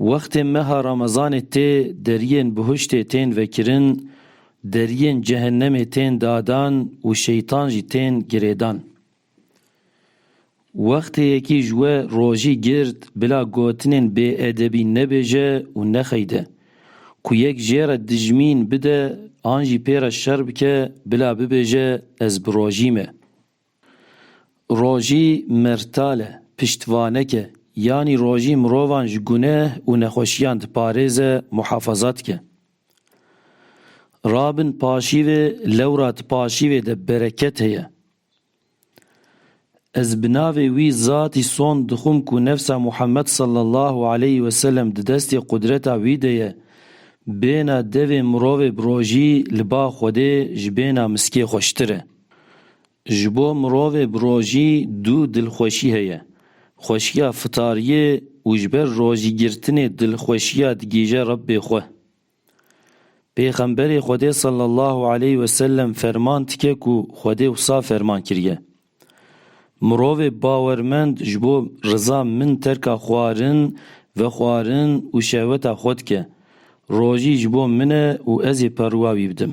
Wextê meha Ramezanê tê deriyên bihuştê tên vekirin, deriyên cehennemê tên dadan û şeytan jî tên girêdan. Wextê yekî ji we rojî girt bila gotinên bêedebî nebêje û nexeyde, ku yek jê re dijmîn bide an jî pê re şer bike bila bibêje ez bi rojî me. Rojî mertal e, piştvanek e, yanî rojî mirovan ji guneh û nexweşiyan diparêze, muhafaza dike. Rabin paşîvê lewra di paşîvê de bereket heye. Ez bi navê wî zatî sond dixwim ku nefsa Muhammed sallallahu aleyh ve selem di destê qudreta wî de ye, bêhna devê mirovê bi rojî li ba Xwedê ji bêhna miskê xweştir e. Ji bo mirovê bi rojî du dilxweşî heye, xweşiya fitariyê û ji ber rojîgirtinê dilxweşiya digihîje Rebbê xwe. Pêxemberê Xwedê sallallahu aleyh ve sellem ferman dike ku Xwedê wisa ferman kiriye, Mirovê bawermend ji bo riza min terka xwarin, vexwarin û şehweta xwe dike, rojî ji bo min e û ez ê perûa wî bidim.